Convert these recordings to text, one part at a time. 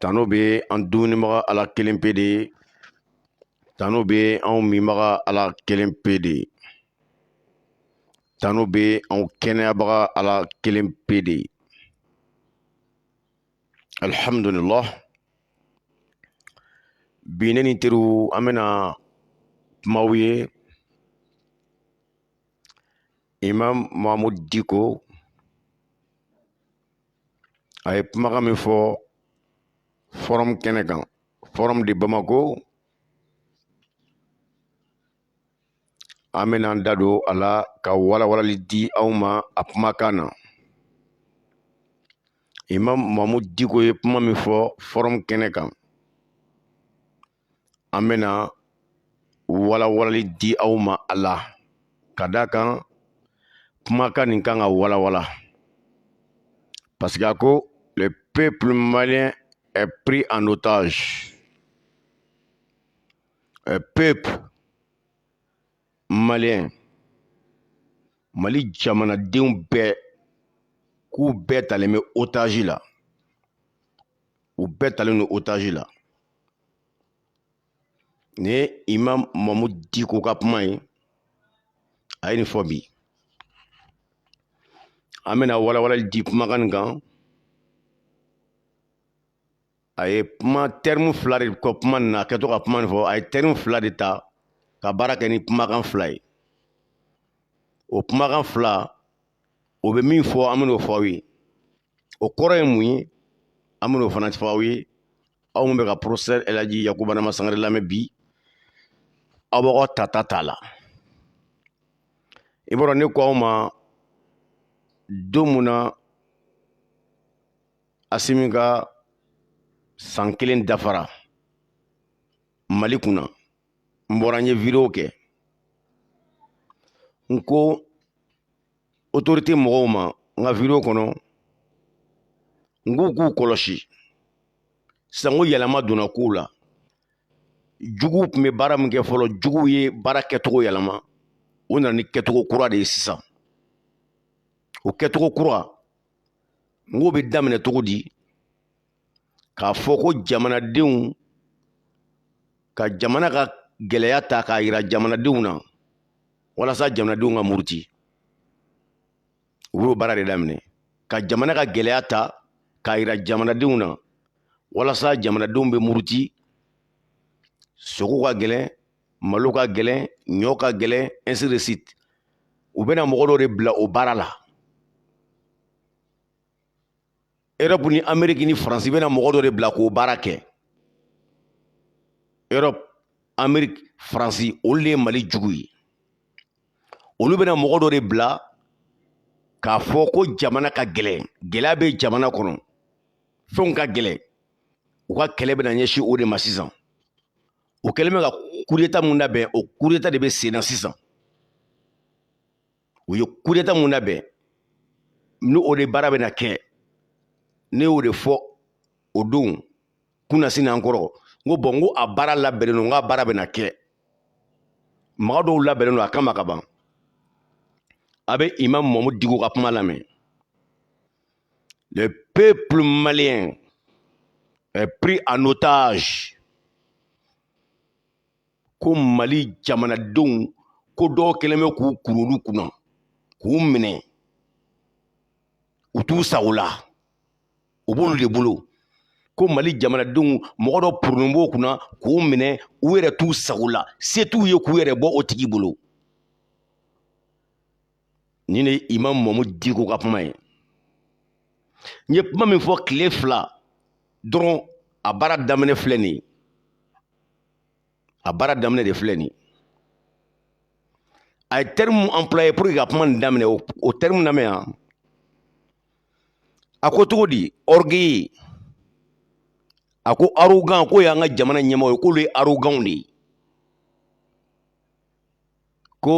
tano bɛ an dumunibaga ala kelen pe de tano bɛ anw minbaga ala kelen pe de tano bɛ anw kɛnɛyabaga ala kelen pe de alihamdulilah bi ne ni teriw an bɛna kuma aw ye imam mahamud diko a ye kumakan min fɔ fɔrɔmu kɛnɛ kan forum de bamako an bɛna an da don a la ka walawalali di aw ma a kumakan na imam mahamud diko ye kuma min fɔ fɔrɔmu kɛnɛ kan an bɛna walawalali di aw ma a la ka d'a kan kumakan nin kan ka walawala parce que a ko le peuple malien est pris en otage le peuple malien mali jamanadenw bɛɛ k'u bɛɛ talen bɛ otage la u bɛɛ talen don otage la nin ye imam mahamud diko ka kuma ye a ye nin fɔ bi an bɛna walawalali di kumakan nin kan a ye kuma terme fila de kɛ kuma nin na a kɛtɔ ka kuma nin fɔ a ye terme fila de ta ka baara kɛ ni kumakan fila ye o kumakan fila o bɛ min fɔ an bɛn'o fɔ aw ye o kɔrɔ ye mun ye an bɛn'o fana fɔ aw ye aw minnu bɛ ka professeur ɛlaji yakuba nama sangare lamɛn bi aw b'aw ka tata t'a la i b'a dɔn ne ko aw ma don mun na asimi ka san kelen dafara mali kunna n bɔra n ye wideyo kɛ n ko autorité mɔgɔw ma n ka video kɔnɔ n k'u k'u kɔlɔsi sisan n ko yɛlɛma donna kow la juguw tun bɛ baara min kɛ fɔlɔ juguw ye baara kɛcogo yɛlɛma u nana ni kɛcogo kura de ye sisan o kɛcogo kura n k'o bɛ daminɛ cogo di k'a fɔ ko jamanadenw ka jamana ka gɛlɛya ta k'a yira jamanadenw na walasa jamanadenw ka muruti u b'o baara de daminɛ ka jamana ka gɛlɛya ta k'a yira jamanadenw na walasa jamanadenw bɛ muruti sogo ka gɛlɛn malo ka gɛlɛn ɲɔ ka gɛlɛn ainsi de suite u bɛna mɔgɔ dɔ de bila o baara la erɔpu ni ameriki ni faransi bɛna mɔgɔ dɔ de bila k'o baara kɛ erɔpu ameriki faransi olu de ye mali jugu ye olu bɛna mɔgɔ dɔ de bila k'a fɔ ko jamana ka gɛlɛn gɛlɛya bɛ jamana kɔnɔ fɛnw ka gɛlɛn u ka kɛlɛ bɛna ɲɛsin o de ma sisan u kɛlen bɛ ka kudeta mun labɛn o kudeta de bɛ sen na sisan u ye kudeta mun labɛn ni o de baara bɛna kɛ ne y'o de fɔ o don kunasini an kɔrɔ n ko bɔn n ko a baara labɛnnen don n k'a baara bɛna kɛ mɔgɔ dɔw labɛnnen don a kama ka ban a bɛ imam mamu diko ka kuma lamɛn le peuple malien est pris en otage ko mali jamanadenw ko dɔw kɛlen bɛ k'u kuru olu kunna k'u minɛ u t'u sago la u b'olu de bolo ko mali jamanadenw mɔgɔ dɔ poronnen b'u kunna k'u minɛ u yɛrɛ t'u sago la se t'u ye k'u yɛrɛ bɔ o tigi bolo nin ye imam mamu diko ka kuma ye n ye kuma min fɔ tile fila dɔrɔn a baara daminɛ filɛ nin ye a baara daminɛ de filɛ nin a ye terme mun employer pour que ka kuma nin daminɛ o terme lamɛn yan a ko cogo di orgueil a ko arrogant k'o y'an ka jamana ɲɛmɔgɔ ye k'olu ye arrogantw de ye ko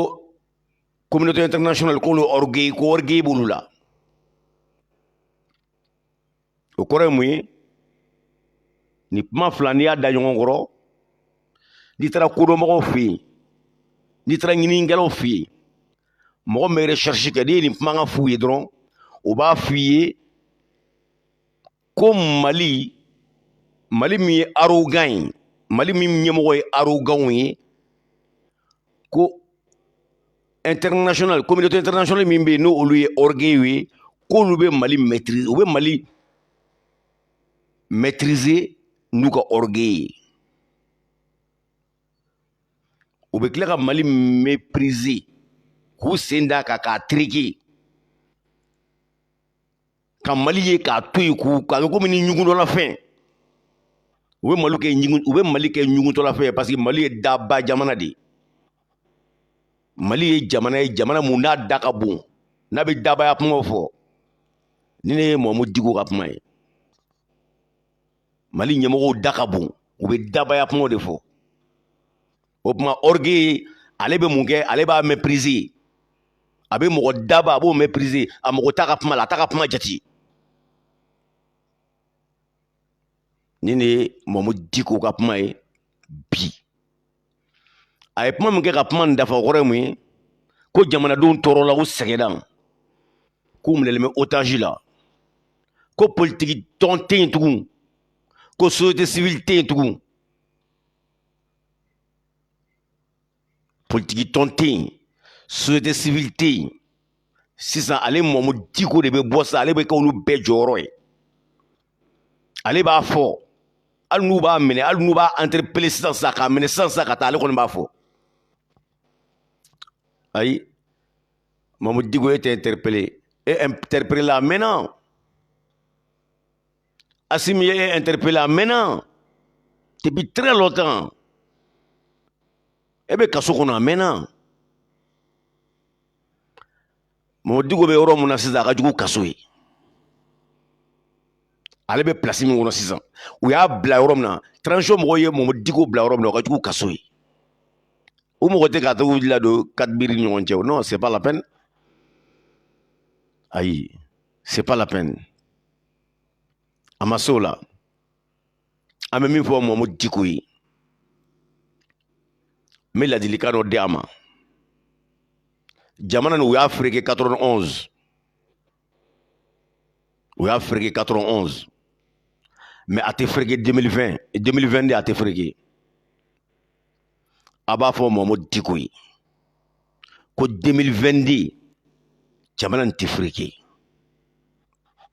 communauté internationale k'olu orgueil ko orgueil b'olu la o kɔrɔ ye mun ye nin kuma fila n'i y'a da ɲɔgɔn kɔrɔ n'i taara kodɔnmɔgɔw fɛ yen n'i taara ɲininikɛlaw fɛ yen mɔgɔ min bɛ recherche kɛ n'i ye nin kumakan f'u ye dɔrɔn u b'a f'i ye ko mali mali min ye arrogant ye mali min ɲɛmɔgɔ ye arrogantw ye ko international communauté internationale min bɛ yen n'olu ye orgueil ye k'olu bɛ mali maîtriser u bɛ mali maîtriser n'u ka orgueil ye u bɛ tila ka mali mépriser k'u sen d'a kan k'a tereke ka mali ye k'a to yen k'u k'a kɛ komi ni ɲugutɔlafɛn u bɛ mali kɛ ɲugutɔlafɛn ye parce que mali ye daba jamana de ye mali ye jamana ye jamana mun n'a da ka bon n'a bɛ dabaya kumaw fɔ nin de ye mamu diko ka kuma ye mali ɲɛmɔgɔw da ka bon u bɛ dabaya kumaw de fɔ o tuma orgueil ale bɛ mun kɛ ale b'a mépriser a bɛ mɔgɔ daba a b'o mépriser a mɔgɔ t'a ka kuma la a t'a ka kuma jate nin de ye mamu diko ka kuma ye bi a ye kuma min kɛ ka kuma nin dafa o kɔrɔ ye mun ye ko jamanadenw tɔɔrɔla k'u sɛgɛnna k'u minɛlen bɛ otazi la ko politiki tɔn tɛ yen tugun ko société civile tɛ yen tugun politiki tɔn tɛ yen société civile tɛ yen sisan ale mamu diko de bɛ bɔ sa ale bɛ kɛ olu bɛɛ jɔyɔrɔ ye ale b'a fɔ hali n'u b'a minɛ hali n'u b'a interpele sisan sisan k'a minɛ sisan sisan ka taa ale kɔni b'a fɔ ayi mamu diko e tɛ interpele e interpele la a mɛnna asimi ye e interpele a mɛnna depuis très longtemps e bɛ kaso kɔnɔ a mɛnna mamu diko bɛ yɔrɔ min na sisan a ka jugu kaso ye ale bɛ plasi min kɔnɔ sisan u y'a bila yɔrɔ min na transition mɔgɔw ye mamu diko bila yɔrɔ min na o ka jugu kaso ye o mɔgɔ tɛ ka t'a ladon quatre murs ni ɲɔgɔn cɛ non c'est pas la peine ayi c'est pas la peine a ma se o la an bɛ min fɔ mamu diko ye n bɛ ladilikan dɔ di a ma jamana nin u y'a fereke 91 u y'a fereke 91 mais a tɛ fereke 2020 2022 a tɛ fereke a b'a fɔ mamu diko ye ko 2022 jamana nin tɛ fereke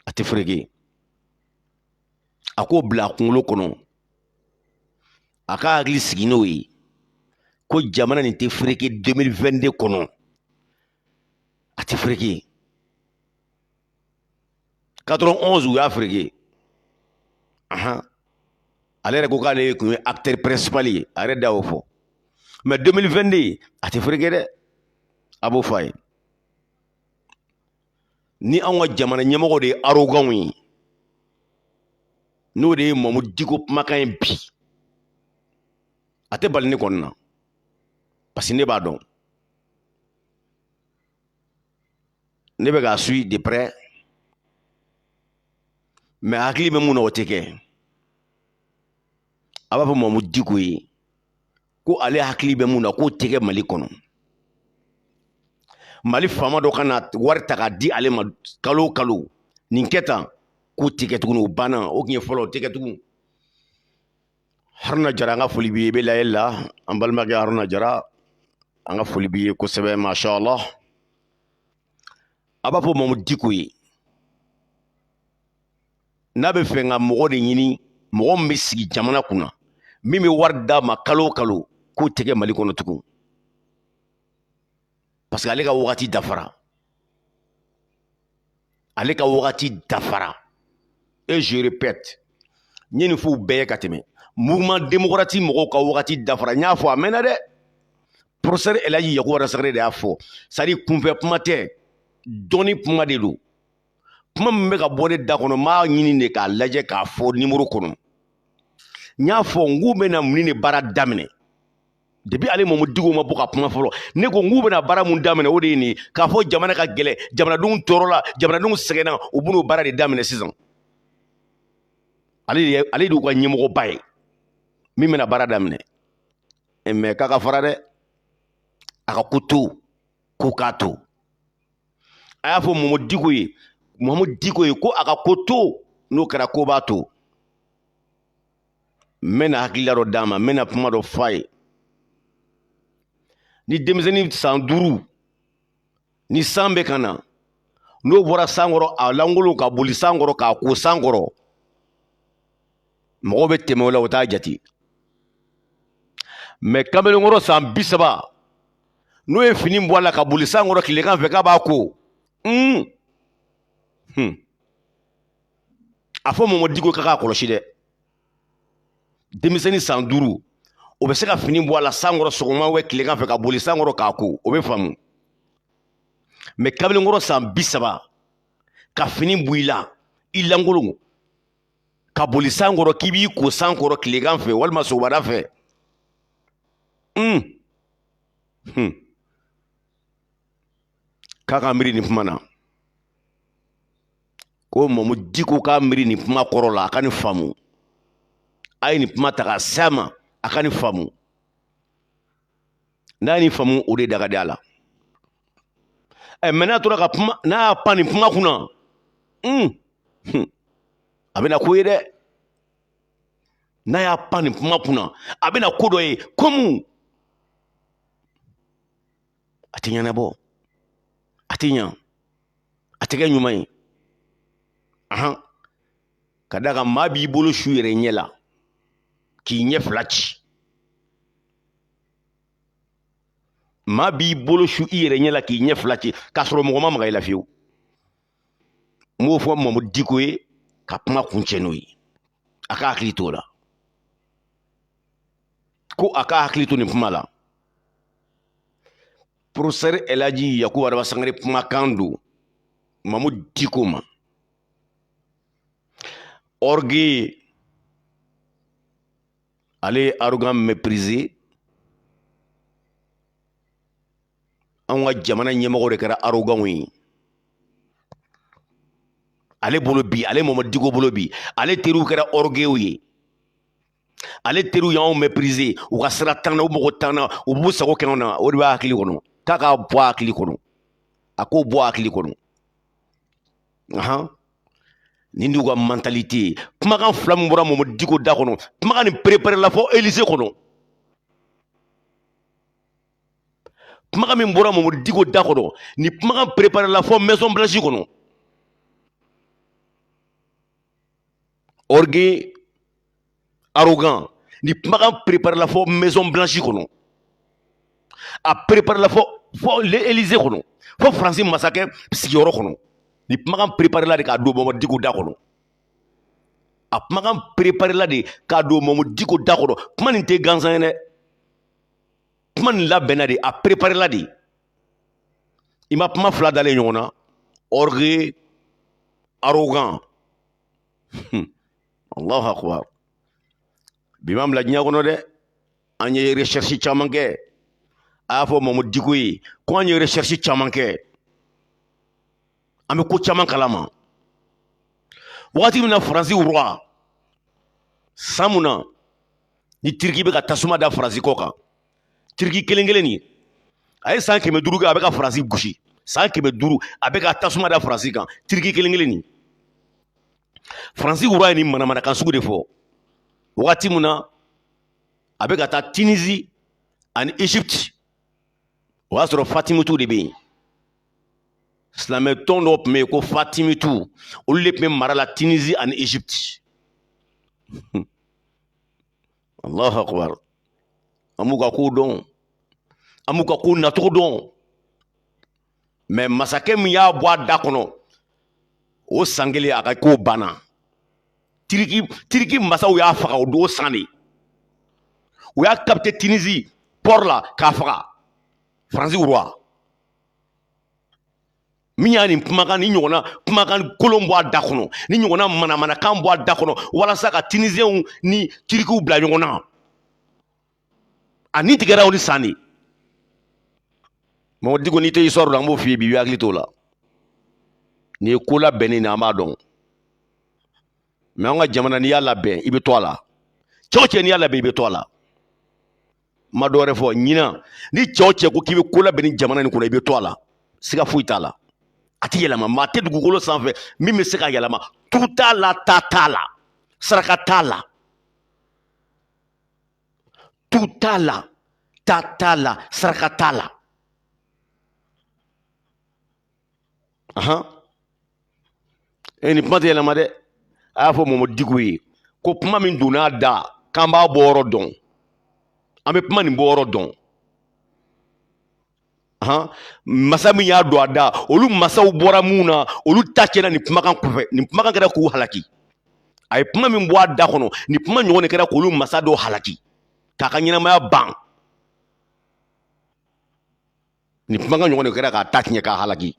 a tɛ fereke a k'o bila a kunkolo kɔnɔ a ka hakili sigi n'o ye ko jamana nin tɛ fereke 2022 kɔnɔ a tɛ fereke 91 u y'a fereke ahan ale yɛrɛ ko k'ale tun ye acteur principal ye a yɛrɛ da y'o fɔ mais 2022 a tɛ fereke dɛ a b'o fɔ a ye ni anw ka jamana ɲɛmɔgɔ de ye arrogant ye n'o de ye mamu diko kumakan ye bi a tɛ bali ne kɔni na parce que ne b'a dɔn ne bɛ k'a suivi de près mais a hakili bɛ min na o tɛ kɛ a b'a fɔ mamu diko ye ko ale hakili bɛ mun na k'o tɛ kɛ mali kɔnɔ mali faama dɔ ka na wari ta k'a di ale ma kalo o kalo nin kɛ tan k'o tɛ kɛ tuguni o banna o tun ye fɔlɔ o tɛ kɛ tugun haruna jara an ka foli b'i ye i bɛ layɛli la an balimakɛ haruna jara an ka foli b'i ye kosɛbɛ masha allah a b'a fɔ mamu diko ye n'a bɛ fɛ ka mɔgɔ de ɲini mɔgɔ min bɛ sigi jamana kunna min bɛ wari d'a ma kalo o kalo k'o tɛ kɛ mali kɔnɔ tugun parce que ale ka wagati dafara ale ka wagati dafara et je répète n ye nin f'u bɛɛ ye ka tɛmɛ mouvement démocratique mɔgɔw ka wagati dafara n y'a fɔ a mɛnna dɛ professeur elaji yakuba rasakare de y'a fɔ c'est à dire kunfɛ kuma tɛ dɔnni kuma de don kuma min bɛ ka bɔ ne da kɔnɔ n b'a ɲini de k'a lajɛ k'a fɔ numéro kɔnɔ n y'a fɔ n k'u bɛna mun de baara daminɛ depuis ale mamu diko ma bɔ ka kuma fɔlɔ ne ko n k'u bɛna baara mun daminɛ o de ye nin k'a fɔ jamana ka gɛlɛn jamanadenw tɔɔrɔla jamanadenw sɛgɛnna u b'o baara de daminɛ sisan ale de ale de y'u ka ɲɛmɔgɔba ye min bɛna baara daminɛ mais k'a ka fara dɛ a ka ko to ko k'a to a y'a fɔ mamu diko ye mamu diko ye ko a ka ko to n'o kɛra ko b'a to n bɛna hakilila dɔ d'a ma n bɛna kuma dɔ f'a ye ni denmisɛnnin san duuru ni san bɛ ka na n'o bɔra san kɔrɔ a lankolon ka boli san kɔrɔ k'a ko san kɔrɔ mɔgɔw bɛ tɛmɛ o la u t'a jate mais kamalenkɔrɔ san bi saba n'o ye fini bɔ a la ka boli san kɔrɔ tilegan fɛ k'a b'a ko hmm. Hmm. a fɔ mamu diko ye k'a k'a kɔlɔsi dɛ denmisɛnnin san duuru o bɛ se ka fini bɔ a la san kɔrɔ sɔgɔma ou tilegan fɛ ka boli san kɔrɔ k'a ko o bɛ faamu mais kamalenkɔrɔ san bi saba ka fini bɔ i la i lankolon ka boli san kɔrɔ k'i b'i ko san kɔrɔ tilegan fɛ walima sɔgɔmada fɛ k'a ka miiri nin kuma na ko mamu diko k'a miiri nin kuma kɔrɔ la a ka nin faamu a ye nin kuma ta k'a s'a ma a ka nin faamu n'a ye nin faamu o de da ka di a la ɛ mais n'a tora ka kuma n'a y'a pan nin kuma kunna a bɛna ko ye dɛ n'a y'a pan nin kuma kunna a bɛna ko dɔ ye comme a tɛ ɲɛnabɔ a tɛ ɲa a tɛ kɛ ɲuman ye ahan ka d'a kan maa b'i bolo su i yɛrɛ ɲɛ la k'i ɲɛ fila ci maa b'i bolo su i yɛrɛ ɲɛ la k'i ɲɛ fila ci k'a sɔrɔ mɔgɔ ma maga i la fiyewu n b'o fɔ mamu diko ye ka kuma kuncɛ n'o ye a ka hakili t'o la ko a ka hakili to nin kuma la porofɛsɛri elaji yakuba araba sangare kumakan don mamu diko ma orgueil ale ye arrogant méprisé anw ka jamana ɲɛmɔgɔ de kɛra arrogantw ye ale bolo bi ale mamu diko bolo bi ale teriw kɛra orgueilw ye ale teriw y'anw méprisé u ka sira t'an na u mago t'an na u b'u sago kɛ anw na o de b'a hakili kɔnɔ k'a k'a bɔ a hakili kɔnɔ a k'o bɔ a hakili kɔnɔ ahan nin de y'u ka mentalité ye kumakan fila min bɔra mamu diko da kɔnɔ kumakan nin préparé la fɔ Élysée kɔnɔ kumakan min bɔra mamu diko da kɔnɔ nin kumakan préparé la fɔ maison blanche kɔnɔ orgueil arrogant nin kumakan préparé la fɔ maison blanche kɔnɔ a préparé la fɔ fɔ l'Élysée kɔnɔ fɔ Faransi masakɛ sigiyɔrɔ kɔnɔ nin kumakan préparé la de k'a don Mamadu Diko da kɔnɔ a kumakan préparé la de k'a don Mamadu Diko da kɔnɔ kuma nin tɛ gansan ye dɛ kuma nin labɛnna de a préparé la de i ma kuma fila dalen ɲɔgɔn na orgueil arrogant Hmm. Allahu akbar bi m'an bila diɲɛ kɔnɔ dɛ an ye recherche caman kɛ a y'a fɔ Mamu Diko ye ko an ye recherche caman kɛ an bɛ ko caman kalama wagati min na Faransi roi san mun na ni Turki bɛ ka tasuma da Faransi kɔ kan tiriki kelen kelen nin a ye san kɛmɛ duuru kɛ a bɛ ka faransi gosi san kɛmɛ duuru a bɛ ka tasuma da faransi kan tiriki kelen kelen nin faransi roi ye nin manamanakan sugu de fɔ wagati min na a bɛ ka taa tinizi ani egypte o y'a sɔrɔ fatimitu de bɛ yen silamɛ tɔn dɔ tun bɛ yen ko fatimitu olu de tun bɛ mara la tinizi ani egypte allahu akbar an b'u ka kow dɔn an b'u ka kow nacogo dɔn mais masakɛ min y'a bɔ a da kɔnɔ o san kelen a ka kow banna tiriki masaw y'a faga o don san de u y'a capté tinizi pɔri la k'a faga faransi roi min y'a nin kumakan ni ɲɔgɔnna kumakan kolon bɔ a da kɔnɔ ni ɲɔgɔnna manamanakan bɔ a da kɔnɔ walasa ka tinisew ni tirikiw bila ɲɔgɔn na a ni tigɛra o ni san de mamu diko n'i tɛ histoire la an b'o f'i ye bi i b'i hakili t'o la nin ye ko labɛnnen de an b'a dɔn mɛ an ka jamana n'i y'a labɛn i bɛ to a la cɛ o cɛ n'i y'a labɛn i bɛ to a la ma dɔwɛrɛ fɔ ɲinan ni cɛ o cɛ ko k'i bɛ ko labɛn nin jamana in kɔnɔ i bɛ to a la siga foyi t'a la a tɛ yɛlɛma maa tɛ dugukolo sanfɛ min bɛ se k'a yɛlɛma tu t'a la ta t'a la saraka t'a la tu t'a la ta t'a la saraka t'a la ahan nin kuma tɛ yɛlɛma dɛ a y'a fɔ mamu diko ye ko kuma min donn'a da k'an b'a bɔ yɔrɔ dɔn an bɛ kuma nin bɔ yɔrɔ dɔn ahan masa min y'a don a da olu masaw bɔra mun na olu ta cɛna nin kumakan kɔfɛ nin kumakan kɛra k'u halaki a ye kuma min bɔ a da kɔnɔ nin kuma ɲɔgɔn de kɛra k'olu masa dɔw halaki k'a ka ɲɛnamaya ban nin kumakan ɲɔgɔn de kɛra k'a ta tiɲɛ k'a halaki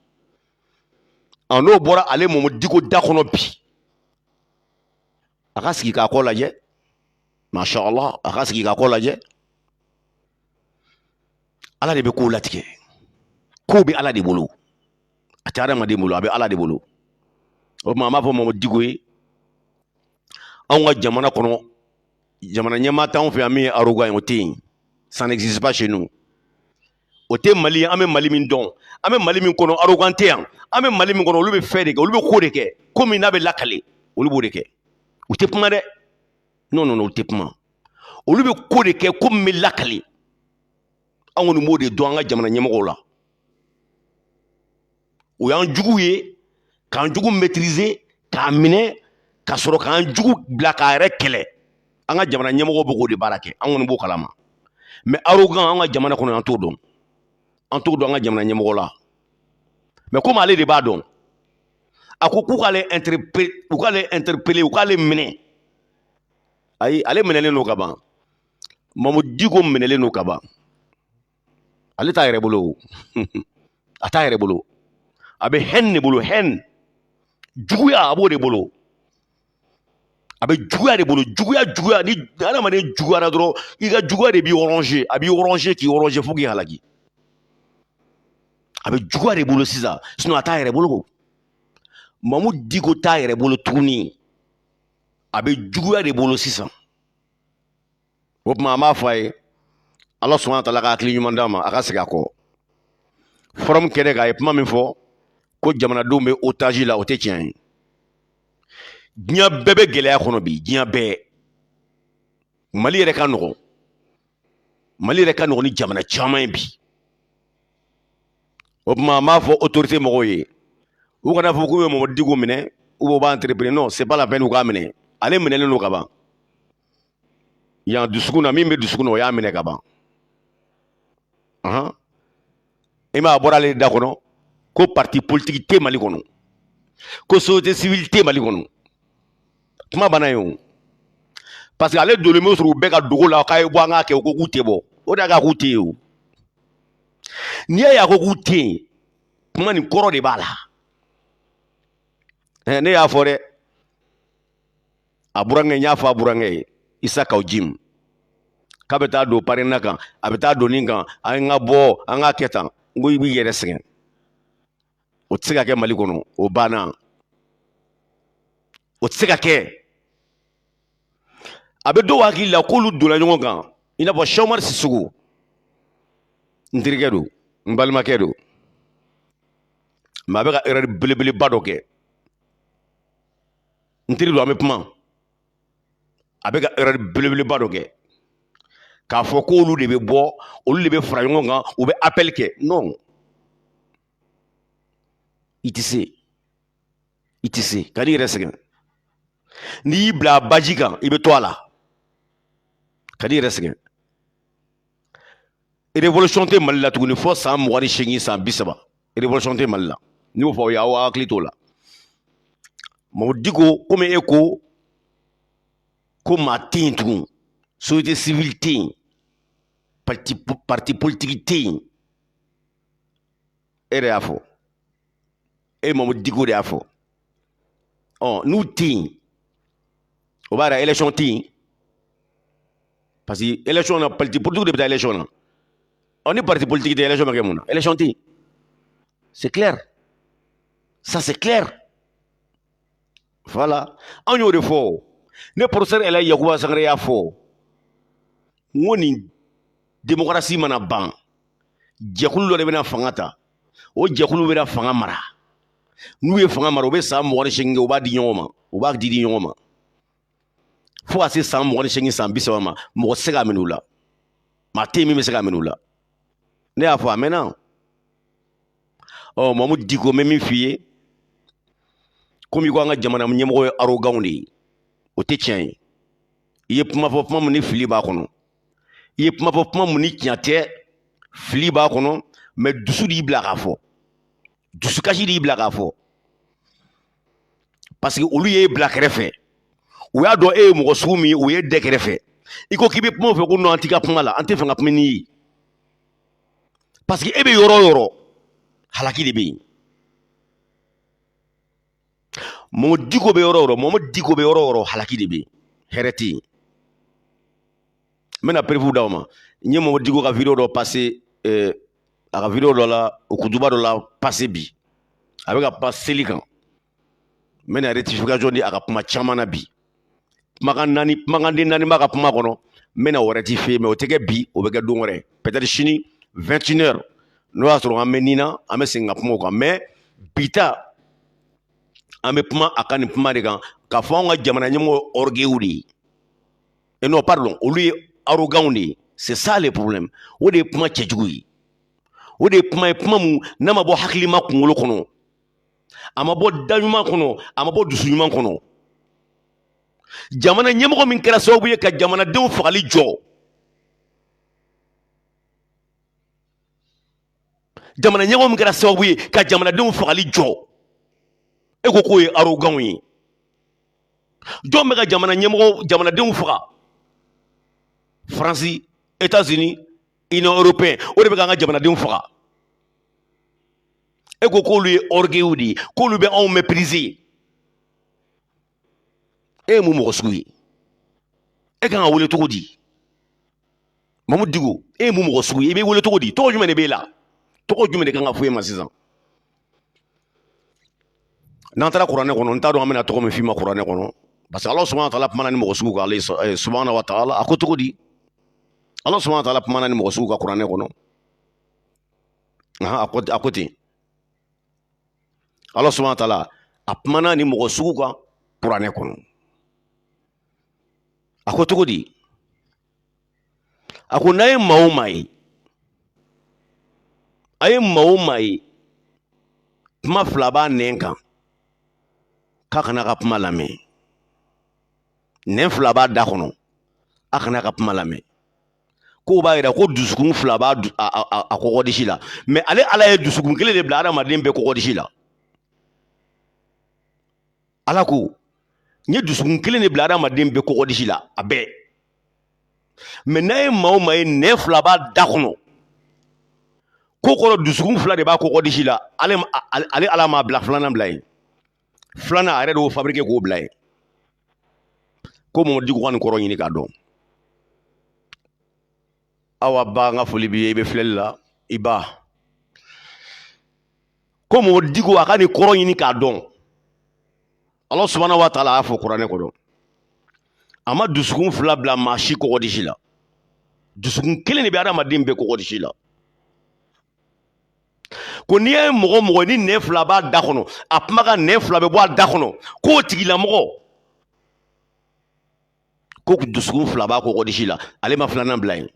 a n'o bɔra ale mamu diko da kɔnɔ bi a ka sigi k'a kɔ lajɛ masha allah a ka sigi k'a kɔ lajɛ ala de bɛ kow latigɛ kow bɛ ala de bolo a tɛ adamaden bolo a bɛ ala de bolo o tuma an b'a fɔ mamu diko ye anw ka jamana kɔnɔ jamana ɲɛmaa t'anw fɛ yan min ye arogan ye o tɛ yen ça n'existe pas chez nous o tɛ mali ye an bɛ mali min dɔn an bɛ mali min kɔnɔ arogan tɛ yan an bɛ mali min kɔnɔ olu bɛ fɛn de kɛ olu bɛ ko de kɛ ko min n'a bɛ lakale olu b'o de kɛ u tɛ kuma dɛ non non non olu tɛ kuma olu bɛ ko de kɛ ko min bɛ lakale an kɔni b'o de dɔn an ka jamana ɲɛmɔgɔw la u y'an jugu ye k'an jugu mɛtirize k'a minɛ ka sɔrɔ k'an jugu bila k'a yɛrɛ kɛlɛ an ka jamana ɲɛmɔgɔ b'o kow de baara kɛ an kɔni b'o kalama mɛ arogan an ka jamana kɔnɔ an t'o dɔn an t'o dɔn an ka jamana ɲɛmɔgɔ la mɛ komi ale de b'a dɔn a ko k'u k'ale interpele u k'ale minɛ ayi ale minɛlen don ka ban mamu diko minɛlen don ka ban ale t'a yɛrɛ bolo a t'a yɛrɛ bolo a bɛ hɛn de bolo hɛn juguya a b'o de bolo a bɛ juguya de bolo juguya juguya ni adamaden juguyara dɔrɔn i ka juguya de b'i ronger a b'i ronger k'i ronger fo k'i halaki a bɛ juguya de bolo sisan sinɔn a t'a yɛrɛ bolo mamu diko t'a yɛrɛ bolo tuguni a bɛ juguya de bolo sisan o tuma an b'a fɔ a ye ala subhana wa taala ka hakili ɲuman d'a ma a ka segin a kɔ fɔrɔmu kɛnɛ kan a ye kuma min fɔ ko jamanadenw bɛ otazi la o tɛ tiɲɛ ye diɲɛ bɛɛ bɛ gɛlɛya kɔnɔ bi diɲɛ bɛɛ mali yɛrɛ ka nɔgɔn mali yɛrɛ ka nɔgɔn ni jamana caman ye bi o tuma an b'a fɔ otorite mɔgɔw ye u kana fɔ k'u bɛ mamu diko minɛ u b'u b'a interpeller non c'est pas la peine u k'a minɛ ale minɛlen don ka ban yan dusukun na min bɛ dusukun na o y'a minɛ ka ban i m'a bɔra ale da kɔnɔ ko parti politiki tɛ mali kɔnɔ ko société civile tɛ mali kɔnɔ kuma banna yen o parce que ale donlen bɛ sɔrɔ u bɛɛ ka dogo la k'a ye bɔ an k'a kɛ u ko k'u tɛ bɔ o de y'a k'a k'u tɛ yen o n'i y'a ye a ko k'u tɛ yen kuma nin kɔrɔ de b'a la ne y'a fɔ dɛ a burankɛ n y'a fɔ a burankɛ ye isa kaw jim k'a bɛ taa don parena kan a bɛ taa don nin kan an ka bɔ an k'a kɛ tan n ko i b'i yɛrɛ sɛgɛn o tɛ se ka kɛ mali kɔnɔ o banna o tɛ se ka kɛ a bɛ dɔw hakili la k'olu donna ɲɔgɔn kan i n'a fɔ sɛki umari sisɔkɔ n terikɛ don n balimakɛ don mɛ a bɛ ka erɛri belebeleba dɔ kɛ n teri don an bɛ kuma a bɛ ka erɛri belebeleba dɔ kɛ k'a fɔ k'olu de bɛ bɔ olu de bɛ fara ɲɔgɔn kan u bɛ apɛli kɛ non i tɛ se i tɛ se ka n'i yɛrɛ sɛgɛn n'i y'i bila baji kan i bɛ to a la ka n'i yɛrɛ sɛgɛn révolution tɛ mali la tuguni fo san mugan ni seegin san bi saba révolution tɛ mali la n y'o fɔ aw ye aw hakili t'o la mamu diko komi e ko ko maa tɛ yen tugun société civile tɛ yen parti parti politique tɛ yen e yɛrɛ y'a fɔ e mamu diko de y'a fɔ ɔ n'u tɛ yen o b'a yira élection tɛ yen parce que élection na parti politiki de bɛ taa élection na ɔ ni parti politiki tɛ élection bɛ kɛ mun na élection tɛ yen c'est clair ça c'est clair voilà anw y'o de fɔ ne professeur ɛlaji yakuba sangare y'a fɔ n ko ni demokarasi mana ban jɛkulu dɔ de bɛna fanga ta o jɛkulu bɛna fanga mara n'u ye fanga mara u bɛ san mugan ni seegin kɛ u b'a di ɲɔgɔn ma u b'a di di ɲɔgɔn ma fo ka se san mugan ni seegin san bi saba ma mɔgɔ tɛ se k'a minɛ u la maa tɛ yen min bɛ se k'a minɛ u la ne y'a fɔ a mɛnna ɔ mamu diko n bɛ min f'i ye komi i ko an ka jamana ɲɛmɔgɔ ye aroganw de ye o tɛ tiɲɛ ye i ye kuma fɔ kuma min ni fili b'a kɔnɔ i ye kuma fɔ kuma min ni tiɲɛ tɛ fili b'a kɔnɔ mais dusu de y'i bila k'a fɔ dusukasi de y'i bila k'a fɔ parce que olu y'e bila kɛrɛfɛ u y'a dɔn e ye mɔgɔ sugu min ye u y'e da kɛrɛfɛ i ko k'i bɛ kuma u fɛ ko non an t'i ka kuma la an t'a fɛ an ka kuma n'i ye parce que e bɛ yɔrɔ o yɔrɔ halaki de bɛ yen mamu diko bɛ yɔrɔ o yɔrɔ mamu diko bɛ yɔrɔ o yɔrɔ halaki de bɛ yen hɛrɛ tɛ yen n bɛna preuve d'aw ma n ye mamu diko ka video dɔ pase eh, a ka video dɔ la ou kutuba dɔ la pase bi a bɛ ka kuma seli kan n bɛna rectification di a ka kuma caman na bi kumakan naani kumakanden naani b'a ka kuma kɔnɔ n bɛna o rectifier mais o tɛ kɛ bi o bɛ kɛ don wɛrɛ peut-être sini 21 heures n'o y'a sɔrɔ an bɛ nin na an bɛ segin ka kuma o kan mais bi ta an bɛ kuma a ka nin kuma de kan k'a fɔ anw ka jamana ɲɛmɔgɔ orgueil de ye eh non pardon olu ye arrogants de ye c'est ça le problème o de ye kuma cɛjugu ye o de ye kuma ye kuma min n'a ma bɔ hakilima kunkolo kɔnɔ a ma bɔ da ɲuman kɔnɔ a ma bɔ dusu ɲuman kɔnɔ jamana ɲɛmɔgɔ min kɛra sababu ye ka jamanadenw fagali jɔ jamana ɲɛmɔgɔ min kɛra sababu ye ka jamanadenw fagali jɔ e ko k'o ye aroganw ye jɔn bɛ ka jamana ɲɛmɔgɔ jamanadenw faga faransi états-unis union européenne o de bɛ ka an ka jamanadenw faga e ko k'olu ye orgueil de ye k'olu bɛ anw mépriser e ye mun mɔgɔ sugu ye e kan ka wele cogo di mamu diko e ye mun mɔgɔ sugu ye i bɛ wele cogo di tɔgɔ jumɛn de b'e la tɔgɔ jumɛn de kan ka fɔ e ma sisan n'an taara kuranɛ kɔnɔ n t'a dɔn an bɛna tɔgɔ min f'i ma kuranɛ kɔnɔ parce que ala subhanahu wa taala kumana nin mɔgɔ sugu kan ala subhanahu wa taala a ko cogo di ala subhanahu wa taala kumana nin mɔgɔ sugu kan kuranɛ kɔnɔ a ko a ko ten ala subhanahu wa taala a kumana nin mɔgɔ sugu kan kuranɛ kɔnɔ a ko cogo di a ko n'a ye maa o maa ye a ye maa o maa ye kuma fila b'a nɛn kan k'a kan'a ka kuma lamɛn nɛn fila b'a da kɔnɔ a kan'a ka kuma lamɛn k'o b'a yira ko dusukun fila b'a kɔgɔdisi la mɛ ale ala ye dusukun kelen de bila adamaden bɛɛ kɔgɔdisi la ala ko n ye dusukun kelen de bila adamaden bɛɛ kɔgɔdisi la a bɛɛ mɛ n'a ye maa o maa ye nɛn fila b'a da kɔnɔ k'o kɔrɔ dusukun fila de b'a kɔgɔdisi la ale ala m'a bila filanan bila yen filanan a yɛrɛ de y'o fabrike k'o bila yen ko mamadu diko ka nin kɔrɔ ɲini k'a dɔn awa ba n ka foli b'i ye i bɛ filɛli la i ba ko mamadu diko a ka nin kɔrɔ ɲini k'a dɔn ala subahana wa taala a y'a fɔ kuranɛ kɔnɔ a ma dusukun fila bila maa si kɔgɔdisi la dusukun kelen de bɛ adamaden bɛɛ kɔgɔdisi la ko n'i ye mɔgɔ mɔgɔ ni nɛn fila b'a da kɔnɔ a kuma ka nɛn fila bɛ bɔ a da kɔnɔ k'o tigilamɔgɔ ko dusukun fila b'a kɔgɔdisi la ale ma filanan bila yen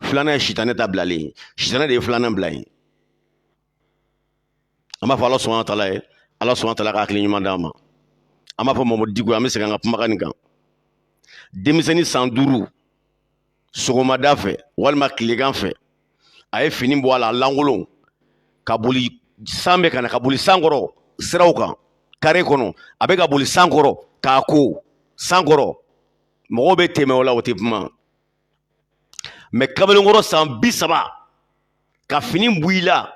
filanan ye sitanɛ ta bilalen ye sitanɛ de ye filanan bila yen an b'a fɔ ala subahana wa taala ye ala subahana wa taala ka hakili ɲuman d'a ma an b'a fɔ mamadu diko an bɛ segin an ka kumakan nin kan denmisɛnnin san duuru sɔgɔmada fɛ walima tilegan fɛ a ye fini bɔ a la lankolon ka boli san bɛ ka na ka boli san kɔrɔ siraw kan kare kɔnɔ a bɛ ka boli san kɔrɔ k'a ko san kɔrɔ mɔgɔw bɛ tɛmɛ o la o tɛ kuma mɛ kamalenkɔrɔ san bi saba ka fini bɔ i la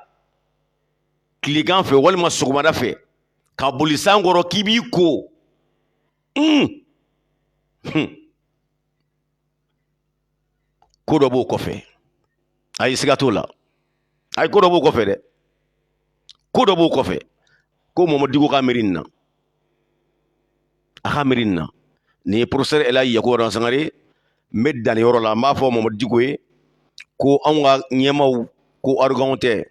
tilegan fɛ walima sɔgɔmada fɛ ka boli san kɔrɔ k'i b'i ko un ko dɔ b'o kɔfɛ ayi siga t'o la ayi ko dɔ b'o kɔfɛ dɛ ko dɔ b'o kɔfɛ ko mamadu diko ka miiri nin na a ka miiri nin na nin ye porofesɛri elaji yakuba sangare n bɛ danni yɔrɔ la n b'a fɔ mamadu diko ye ko anw ka ɲɛmaw ko aroganw tɛ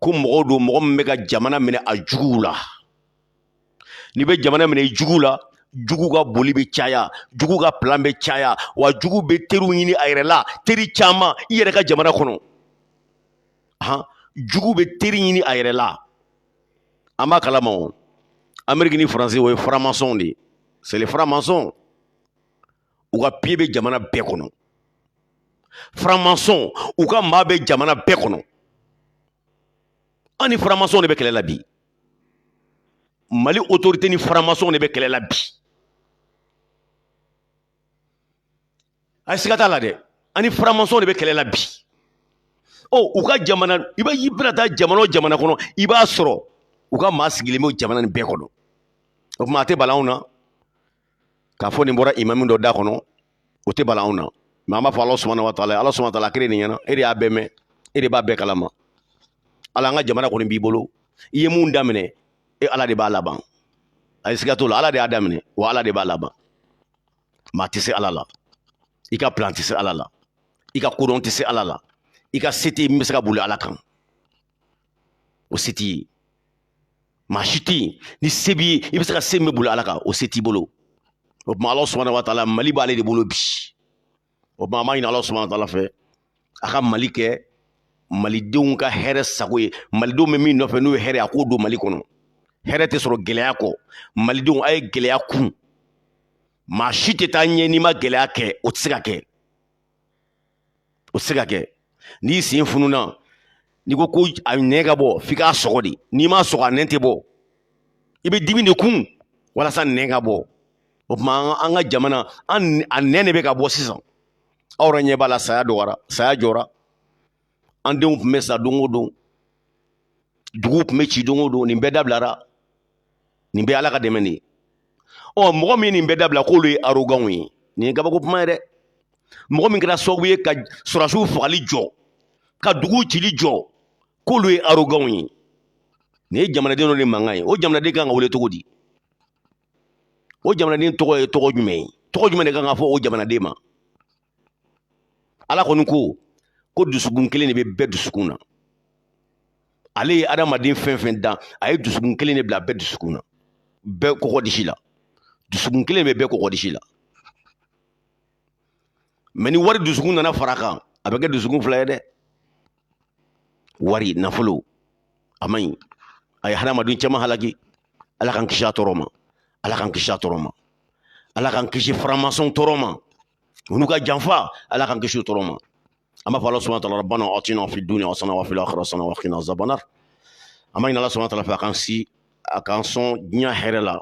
ko mɔgɔw don mɔgɔ min bɛ ka jamana minɛ a juguw la n'i bɛ jamana minɛ i jugu la jugu ka boli bɛ caya jugu ka plan bɛ caya wa jugu bɛ teriw ɲini a yɛrɛ la teri caman i yɛrɛ ka jamana kɔnɔ han jugu bɛ teri ɲini a yɛrɛ la an b'a kalama o ameriki ni faransi o ye faramasɔnw de ye c'est les faramasɔn u ka piye bɛ jamana bɛɛ kɔnɔ faramasɔn u ka maa bɛ jamana bɛɛ kɔnɔ an ni faramasɔnw de bɛ kɛlɛ la bi mali otorite ni faramasɔn de bɛ kɛlɛ la bi ayi siga t'a la dɛ an ni faramasɔn de bɛ kɛlɛ la bi ɔ u ka jamana i bɛ i bɛna taa jamana o jamana kɔnɔ i b'a sɔrɔ u ka maa sigilen bɛ jamana nin bɛɛ kɔnɔ o tuma a tɛ bala anw na k'a fɔ nin bɔra imamu dɔ da kɔnɔ o tɛ bala anw na mɛ an b'a fɔ ala subahana wa taala ala subahana taala kiri nin ɲɛna e de y'a bɛɛ mɛn e de b'a bɛɛ kalama ala an ka jamana kɔni b'i bolo i ye mun daminɛ e ala de b'a laban ayi siga t'o la ala de y'a daminɛ wa ala de b'a laban maa tɛ se ala la i ka plan tɛ se ala la i ka kodɔn tɛ se ala la i ka se tɛ min bɛ se ka boli ala kan o se t'i ye maa si tɛ yen ni se b'i ye i bɛ se ka se min bɛ boli ala kan o se t'i bolo o tuma ala subahana wa taala mali b'ale de bolo bi o tuma an b'a ɲini ala subahana wa taala fɛ a ka mali kɛ malidenw ka hɛrɛ sago ye malidenw bɛ min nɔfɛ n'o ye hɛrɛ a k'o don mali kɔnɔ hɛrɛ tɛ sɔrɔ gɛlɛya kɔ malidenw a ye gɛlɛya kun maa si tɛ taa ɲɛ n'i ma gɛlɛya kɛ o tɛ se ka kɛ o se ka kɛ n'i sen fununa n'i ko ko a nɛn ka bɔ f'i k'a sɔgɔ de n'i m'a sɔgɔ a nɛn tɛ bɔ i bɛ dimi de kun walasa nɛn ka bɔ o tuma an ka jamana a nɛn de bɛ ka bɔ sisan aw yɛrɛ ɲɛ b'a la saya dɔgɔyara saya jɔra an denw tun bɛ sa don o don duguw tun bɛ ci don o don nin bɛɛ dabilara nin bɛɛ ala ka dɛmɛ de ye ɔ mɔgɔ min ye nin bɛɛ dabila k'olu ye aroganw ye nin ye kabako kuma ye dɛ mɔgɔ min kɛra sababu ye ka sɔrɔdasiw fagali jɔ ka dugu cili jɔ k'olu ye aroganw ye nin ye jamanaden dɔ de mankan ye o jamanaden kan ka wele cogo di o jamanaden tɔgɔ ye tɔgɔ jumɛn ye tɔgɔ jumɛn de kan ka fɔ o jamanaden ma ala kɔni ko ko dusukun kelen de bɛ bɛɛ dusukun na ale ye adamaden fɛn fɛn dan a ye dusukun kelen de bila bɛɛ dusukun na bɛɛ kɔkɔ disi la dusukun kelen bɛ bɛɛ kɔkɔ disi la mɛ ni wari dusukun nana fara kan a bɛ kɛ dusukun fila ye dɛ wari nafolo a man ɲi a ye hadamaden caman halaki ala k'an kisi a tɔɔrɔ ma ala k'an kisi a tɔɔrɔ ma ala k'an kisi faramasɔn tɔɔrɔ ma olu ka janfa ala k'an kisi tɔɔrɔ ma an b'a fɔ ala subahana taala rabbana atina fi dunya hasana wa fil akhirati hasana wa kina azaban nar an b'a ɲini ala subahana taala fɛ a k'an si a k'an sɔn diɲɛ hɛrɛ la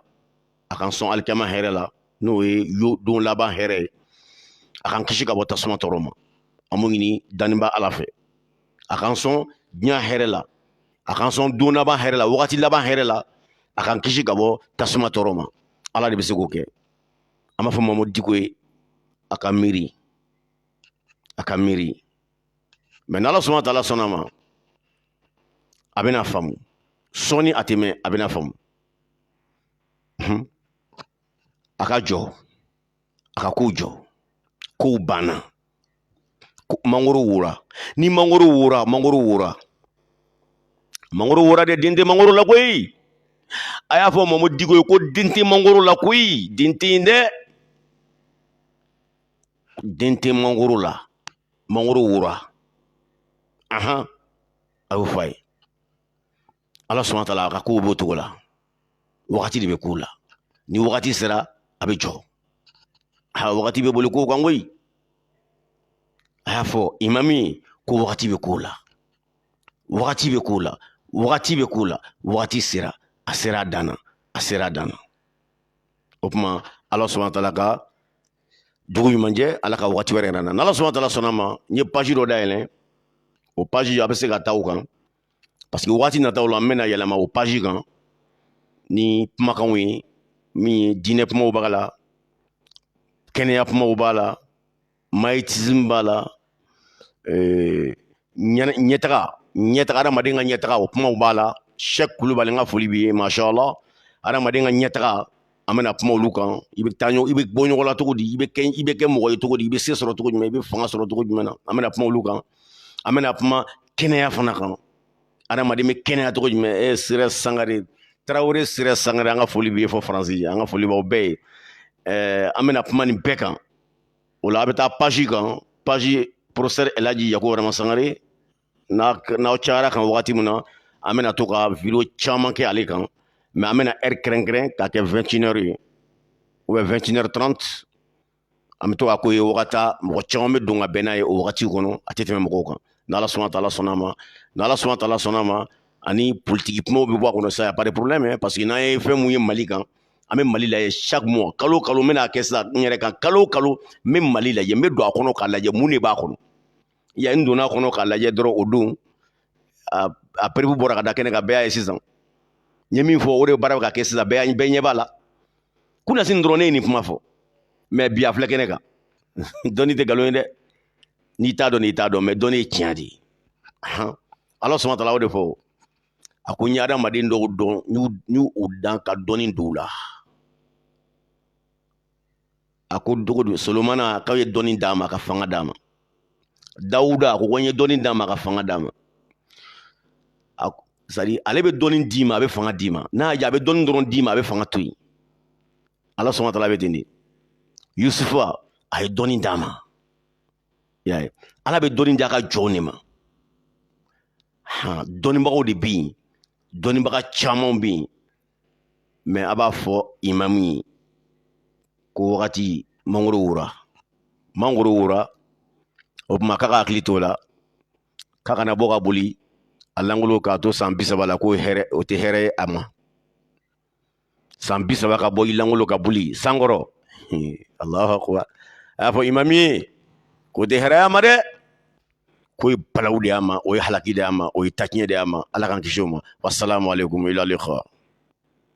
a k'an sɔn alikiyama hɛrɛ la n'o ye yo don laban hɛrɛ ye a k'an kisi ka bɔ tasuma tɔɔrɔ ma an b'o ɲini dannibaa ala fɛ a k'an sɔn diɲɛ hɛrɛ la a k'an sɔn don laban hɛrɛ la wagati laban hɛrɛ la a k'an kisi ka bɔ tasuma tɔɔrɔ ma ala de bɛ se k'o kɛ an b'a fɔ mamudu diko ye a ka miiri a ka miiri mɛ n'ala subahana taala sɔnna a ma a bɛna faamu sɔɔni a tɛ mɛɛn a bɛna faamu a ka jɔ a ka kow jɔ kow banna mangoro wora ni mangoro wora mangoro wora mangoro wora de den tɛ mangoro la koyi a y'a fɔ mamu diko ye ko den tɛ mangoro la koyi den tɛ yen dɛ den tɛ mangoro la mangoro wora ahan a y'o fɔ a ye ala subahana taala a ka kow b'o cogo la wagati de bɛ kow la ni wagati sera a bɛ jɔ a wagati bɛ boli kow kan koyi a y'a fɔ imami ko wagati bɛ ko la wagati bɛ ko la wagati bɛ ko la wagati sera a sera a dan na a sera a dan na o tuma ala subahana taala ka dugu ɲuman jɛ ala ka wagati wɛrɛ yira an na n'ala subahana taala sɔnna ma n ye paji dɔ dayɛlɛ o paji a bɛ se ka taa o kan parce que waati nataw la n bɛna yɛlɛma o paji kan ni kumakanw ye min ye diinɛ kumaw b'a la kɛnɛya kumaw b'a la mayitism b'a la eh, ɲɛtaga ɲɛtaga adamaden ka ɲɛtaga o kumaw b'a la sɛki kulubali n ka foli b'i ye mashallah adamaden ka ɲɛtaga an bɛna kuma olu kan i bɛ taa i bɛ bɔ nɔgɔ la cogo di i bɛ kɛ i bɛ kɛ mɔgɔ ye cogo di i bɛ se sɔrɔ cogo jumɛn i bɛ fanga sɔrɔ cogo jumɛn na an bɛna kuma olu kan an bɛna kuma kɛnɛya fana kan adamaden bɛ kɛnɛya cogo jumɛn e sira sangare tarawele sira sangare an ka foli bɛ fo faransi an ka foli b'aw bɛɛ ye ɛɛ an bɛna kuma nin bɛɛ kan o la a bɛ taa paji kan paji professeur ɛlaji yakuba burama sangare n'aw cayara a kan wagati min na an bɛna to ka video caman kɛ ale kan mais an bɛna heure kɛrɛnkɛrɛn k'a kɛ vingt et une heures ye ou bien vingt et une heures trente an bɛ to k'a k'o ye wagati mɔgɔ caman bɛ don ka bɛn n'a ye o wagati kɔnɔ a tɛ tɛmɛ mɔgɔw kan n'ala subahana taala sɔnna ma n'ala subahana taala sɔnna ma ani politiki kumaw bɛ bɔ a kɔnɔ sa pas de problème parce que n'an ye fɛn mun ye mali kan an bɛ mali lajɛ chaque mois kalo kalo n bɛna kɛ sisan n yɛrɛ kan kalo kalo n bɛ mali lajɛ n bɛ don a kɔnɔ k'a lajɛ mun de b'a kɔnɔ ya n donna a kɔnɔ k'a lajɛ dɔrɔn o don a preuve bɔra ka da kɛnɛ kan bɛɛ y'a ye sisan n ye min fɔ o de baara bɛ ka kɛ sisan bɛɛ bɛɛ ɲɛ b'a la kunasini dɔrɔn ne ye nin kuma fɔ mais bi a filɛ kɛnɛ kan dɔnni tɛ nkalon ye dɛ n'i t'a dɔn n'i t'a dɔn mais dɔnni ye tiɲɛ de ye ala subahana taala o de fɔ a ko n ye adamaden dɔw dan n y'u dan ka dɔnni don u la a ko dogo don solomana k'a ye dɔnni d'a ma ka fanga d'a ma dawuda a ko ko n ye dɔnni d'a ma ka fanga d'a ma c'est-à-dire ale bɛ dɔnni d'i ma a bɛ fanga d'i ma n'a y'a diya a bɛ dɔnni dɔrɔn d'i ma a bɛ fanga to yen ala subahana taala bɛ ten de yusufa a ye dɔnni d'a ma y'a ye ala bɛ dɔnni d'a ka jɔnw de ma dɔnnibagaw de bɛ yen dɔnnibaga caman bɛ yen mais a b'a fɔ imamu ye ko wagati mangoro wora mangoro wora o tuma k'a ka hakili t'o la k'a kana bɔ ka boli a langolo k'a to san bi saba la ko o tɛ hɛrɛ ye a ma san bi saba ka bɔ i langolo ka boli san kɔrɔ allahu akbar a y'a fɔ imamu ye k'o tɛ hɛrɛ y'a ma dɛ k'o ye balawu de y'a ma o ye halaki de y'a ma o ye taɲɛ de y'a ma ala k'an kisi o ma wassalamu alaikum ila liqa